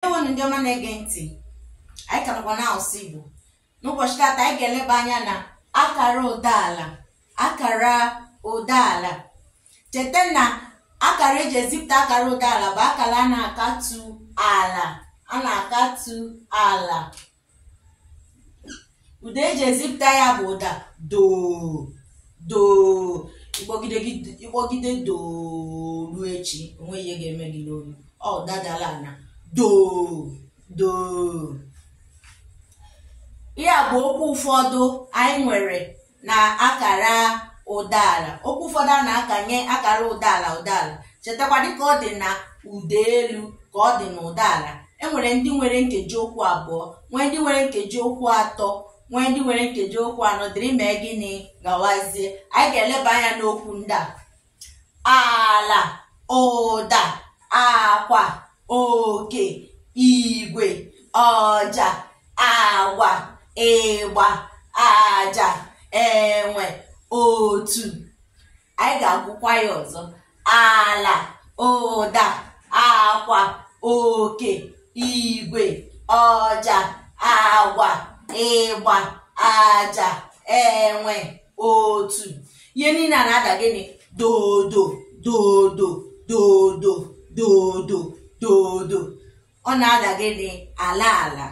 Ndewonụ ndị ọma na-ege ntị anyị ka nọkwa n'asụsụ Igbo n'ụbọchị taata anyị ga-eleba anya na akara ụdaala akara ụdaala cheta na akara eji ezipụta akara ụdaala bụ akara a na-akatu ala a na-akatu ala ụda eji ezipụta ya bụ ụda doo doo ị kpọgide doo ruo echi o nweghị ihe ga-eme gị n'olu ọ ụda dara ana doo doo ihe a bụ okwu ụfọdụ anyị nwere na akara ụdaala okwu ụfọdụ a na-akanye akara ụdaala ụdaala chetakwa dịka ọ dị na ụda elu ka ọ dị na ụdaala enwere ndị nwere nkeji okwu abụọ nwee ndị nwere nkeji okwu atọ nwee ndị nwere nkeji okwu anọ dịrị mee gịnị gawazie anyị ga-eleba anya n'okwu ndị a ala ụda akwa oke igwe ọja agwa ịgba aja enwe otu anyị ga-agụkwa ya ọzọ ala ụda akwa oke igwe ọja agwa ịgba aja enwe otu ihe niile a na-ada gịnị dodo dodo dodo dodo dodo ọ na-ada gịnị ala ala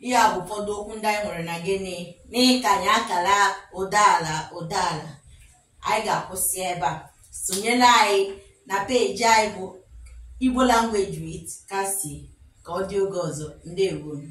ihe a bụ ụfọdụ okwu ndị anyị nwere na gịnị n'ịkanye akara ụdaala ụdaala anyị ga-akwụsị ebe a sonyere anyị na peeji anyị bụ Igbo language with Cassie ka ọ dị oge ọzọ ndewonụ